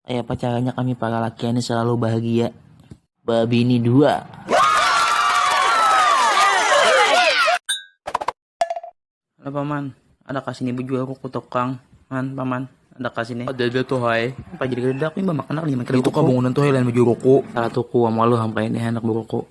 Kaya apa caranya kami para laki ini selalu bahagia. Babini dua. Halo paman, ada kasini bejual kuku tokang. Man, paman, ada kasini. Ada ada tuh hai. Apa jadi kerja aku mbak makan lima kilo. Itu kabangunan tuh hai lain baju rokok. Salah tuku, malu hampa ini anak berokok.